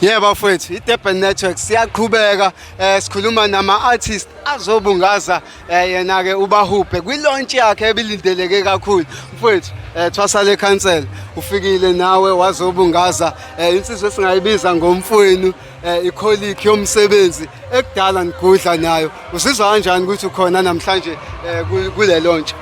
Yebo bafowethu iDurban Network siyaqhubeka eh sikhuluma nama artist azobungaza eh, yena ke ubahubhe kwi launch yakhe ebilindeleke kakhulu mfowethu eh thwasa le council ufikile nawe wazobungaza eh insizwe esingayibiza ngomfowenu eh ikholic yomsebenzi ekudala ngigudla nayo Usizwa kanjani ukuthi ukhona namhlanje eh, ku- kule lontsha?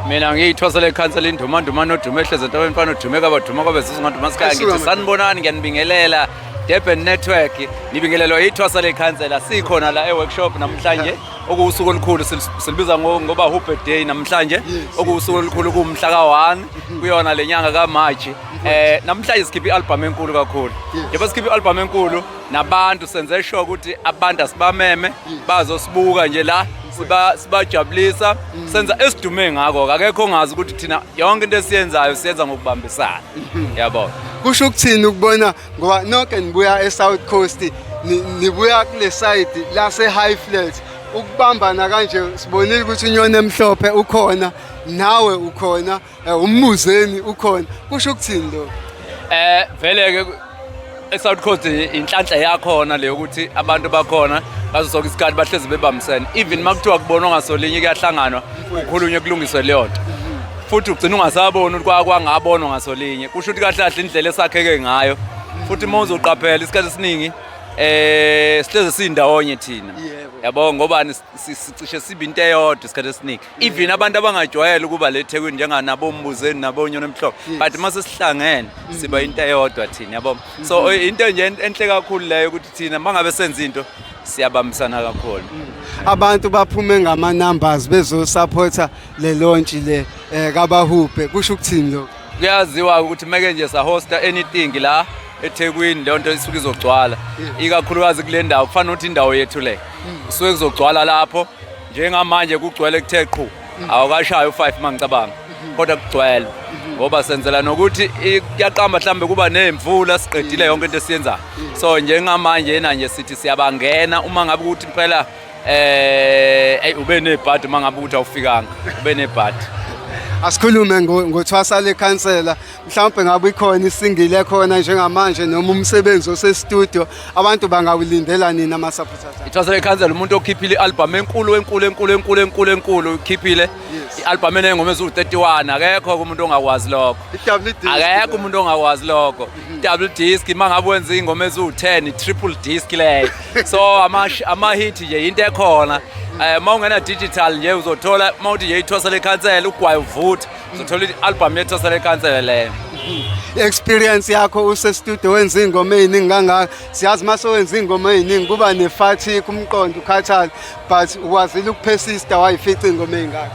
mina ngiyithwasela ikhansela indumandumane odume ehlezi entabeni mfana odume kabaduma kwabe zizinganduma sikhaya Asuka ngithi manje. sanibonani ngiyanibingelela durban network nibingelelwa yithwasa lekhansela sikhona la e-workshop namhlanje okuwusuku olukhulu sil- silibiza ngo- ngoba hubbe day namhlanje Yes. okuwusuku olukhulu kuwumhla ka-one kuyona le nyanga kamaji um namhlanje sikhiphe i-albhamu enkulu kakhulu Yes. njengoba sikhiphe i-albhamu enkulu nabantu senze sure ukuthi abantu asibameme bazosibuka nje la siba sibajabulisa senza esidume ngako akekho ongazi ukuthi thina yonke into esiyenzayo siyenza ngokubambisana yabo kusho ukuthini ukubona ngoba nonke nibuya eSouth Coast ni- nibuya kule side lase high flat ukubambana kanje sibonile ukuthi unyoni emhlophe ukhona nawe ukhona Eh, ummuzeni ukhona kusho ukuthini lo eh vele ke eSouth Coast inhlanhla yakhona le ukuthi abantu bakhona ngaso sonke isikhathi bahlezi bebambisene even makuthiwa kubonwa ngasolinye kuyahlanganwa ukhulunywe kulungiswe leyo nto futhi ugcina ungasaboni ukuthi kwakwangabonwa ngasolinye kusho ukuthi kahle kahle indlela esakheke ngayo futhi uma uzoqaphela isikhathi esiningi eh sihleze sindawonye thina yabo ngoba sicishe sibe into eyodwa isikhathi esiningi even abantu abangajwayele ukuba le thekwini njenganabombuzeni nabonyona emhlophe Yes. but uma sesihlangene siba into eyodwa thina yabo so into nje en- enhle kakhulu leyo ukuthi thina uma ngabe senza into siyabambisana kakhulu abantu baphume ngama numbers bezosupporta le launch le eh, kabahubhe kusho ukuthini lokho kuyaziwa ukuthi meke nje sahosta anything la ethekwini leyo nto isuke izogcwala ikakhulukazi kule ndawo kufanele ukuthi indawo yethu le kusuke kuzogcwala lapho njengamanje kugcwele kuthe qhu mm. awukashayi u-five uma ngicabanga mm-hmm. kodwa kugcwele mm-hmm. ngoba senzela nokuthi kuyaqamba mhlawumbe kuba ney'mvula siqedile mm. yonke into esiyenzayo mm. so njengamanje yena nje sithi siyabangena uma ngabe ukuthi phela eh hey ube nebhadi uma ngabe ukuthi awufikanga ube nebhadi asikhulume ngothwasa lekhansela mhlawumbe ngabe ikhona isingile khona njengamanje noma umsebenzi osestudio abantu bangawulindela nini ama-supporters ithwasele ikhansela umuntu okhiphile i-albhamu enkulu enkulu enkulu enkulu enkulu enkulu ukhiphile i-albhamu enengoma eziwu-31 akekho umuntu ongakwazi lokho akekho umuntu ongakwazi lokho mhm. double disk uma ngabe wenza iy'ngoma eziwu-10 triple disk leyo so amahithi nje yinto ekhona um eh, uma ungena-digital nje uzothola uma uthi nje ithwasele ikhansela ugwaye uvutha uzothola i-albhamu yethu asale kansele leyo experience yakho usestudio wenza iy'ngoma ey'ningi kangaka siyazi uma sewenza iy'ngoma ey'ningi kuba nefathi kumqondo ukhathale but ukwazile ukuphesista wayifica iy'ngoma ey'ngaka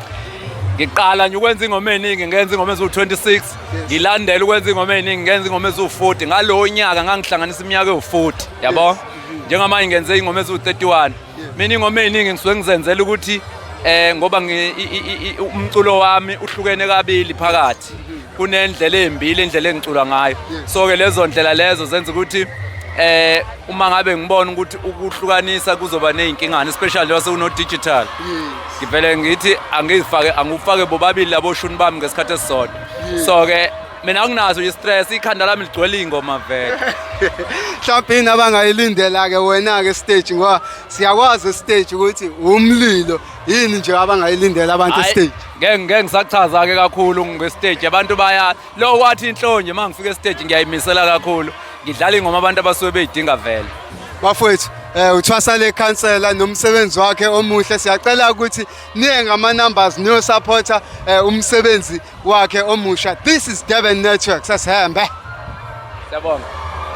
ngiqala nje ukwenza ingoma eningi ngenza ingoma eziwu-26 ngilandela ukwenza ingoma eningi ngenza ingoma eziwu-40 ngalowo nyaka ngangihlanganisa iminyaka ewu-40 yabo njengamanje ngenze ingoma eziwu-31 mina ingoma eyiningi ngisuke ngizenzela ukuthi eh ngoba umculo wami uhlukene kabili phakathi kunendlela ezimbili indlela engicula ngayo so ke lezo ndlela lezo zenza ukuthi eh uma ngabe ngibona ukuthi ukuhlukanisa kuzoba nezinkingana especially wase uno digital ngivele ngithi angizifake angufake bobabili labo shuni bami ngesikhathi esisodwa so ke mina anginazo i-stress ikhanda lami ligcwele iy'ngoma vele mhlawumbe yini abangayilindela-ke wena-ke esiteji ngoba siyakwazi esiteji ukuthi wumlilo yini nje abangayilindela abantu Hhayi, esiteji ngeke ngeke ngisachaza-ke kakhulu ngesiteji abantu baya lo wathi inhlonje uma ngifika esiteji ngiyayimisela kakhulu ngidlala ingoma abantu abasuke beyidinga vele bafowethu um uthwasa le khansela nomsebenzi wakhe omuhle siyacela ukuthi niye ngama-numbers niyosaphotha um umsebenzi wakhe omusha this is Durban Network sasihamba Siyabonga.